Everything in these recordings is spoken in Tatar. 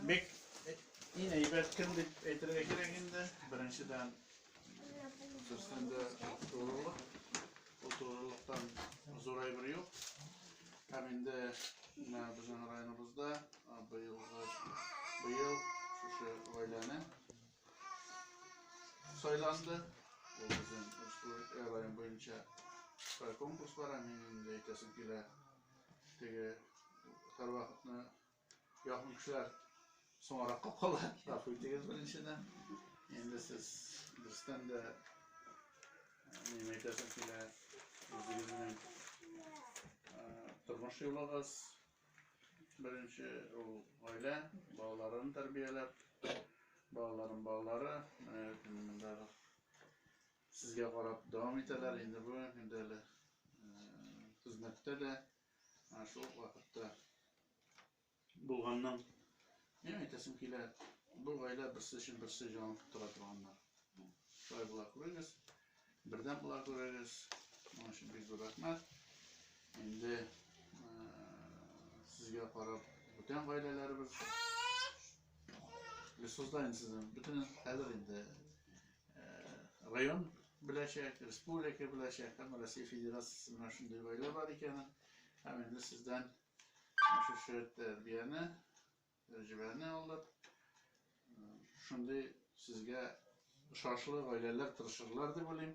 Бик иң әйбәт кем дип әйтергә кирәк инде. Беренчедән берсен дә турылык. Ул турылыктан зур әйбер юк. Һәм инде менә безнең районыбызда быелгы быел шушы гаиләне сайланды. Ул безнең республика район буенча конкурс бар, мин инде әйтәсем килә. Теге һәрвакытны Якын кешеләр соңракка кала, гафу итегез беренчедән. Инде сез дөрестән дә нимә әйтәсем килә, үзегезнең тормыш юлыгыз беренче ул гаилә, балаларын тәрбияләп, балаларым балалары, менә сезгә карап дәвам итәләр. Инде бу инде әле хезмәттә дә, Ә шул ук вакытта булганның не әйтәсем килә, бу гаилә берсе өчен берсе җан тора торганнар. Шулай була күрегез, бердәм була күрегез. Моның өчен бик зур рәхмәт. Инде сезгә карап бүтән гаиләләребез Лесозда инде сезнең бөтен хәзер инде район беләчәк, республика беләчәк, һәм Россия Федерациясе менә шундый гаилә бар икәнен, һәм инде сездән шушы тәрбияне, тәҗрибәне алып, шундый сезгә ошашлы гаиләләр тырышырлар дип уйлыйм.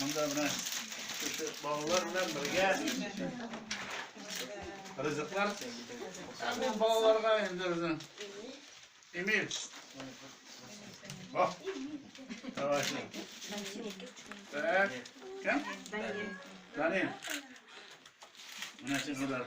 Монда менә кеше балалар белән бергә ризыклар. Бу балаларга инде безнең Эмиль. Бак. Давай. Так. Кем? Данил. Менә син удар.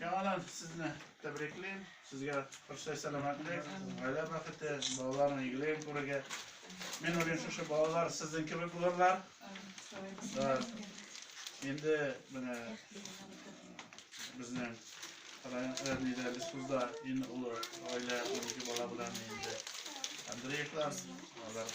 Яңадан сезне тәбриклим. Сезгә хөрсә сәламәтлек, гаилә бәхете, балаларның игелеген күрергә. Мин уйлыйм, шушы балалар сезнең кебек булырлар. Инде менә безнең районда Бескузда иң олы гаилә, 12 бала белән инде Андреевлар, алар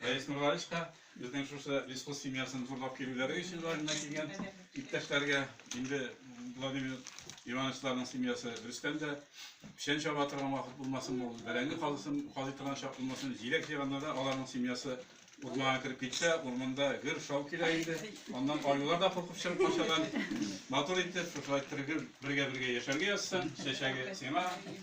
Рәис Нурлаевич та безнең шушы лесхоз семьясын зурлап килүләре өчен районнан килгән иптәшләргә, инде Владимир Ивановичларның семьясы Рөстәм дә печән чаба торган вакыт булмасын, ул бәрәңге казысын казый торган чак булмасын, җиләк җыйганда да аларның семьясы урманга кереп китсә, урманда гөр шау килә инде. Аннан аюлар да куркып чыгып качалар. Матур итеп, шулай тергел бергә-бергә яшәргә язсын. Чәчәге сиңа,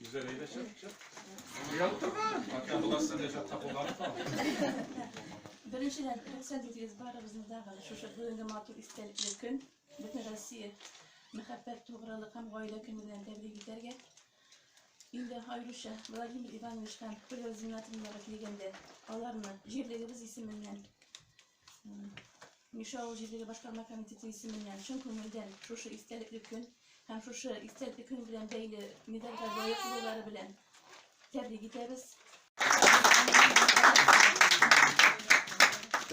Гүзәл, әйдә чык, чык. Янып торма. Атка буласың, дә чакта кулланып кал. Беренчедән, рөхсәт итегез барыбызны да шушы бүгенге матур истәлекле көн, бөтен Россия мәхәббәт, тугрылык һәм гаилә көне белән тәбрик итәргә. Инде аеруча Владимир Иванович һәм Хуля Зиннатовнага килгәндә, аларны җирлегебез исеменнән Миша авыл җирлеге башкарма комитеты исеменнән чын күңелдән шушы истәлекле көн һәм шушы истәлекле көн белән бәйле медальгә лаек булулары белән тәбрик итәбез.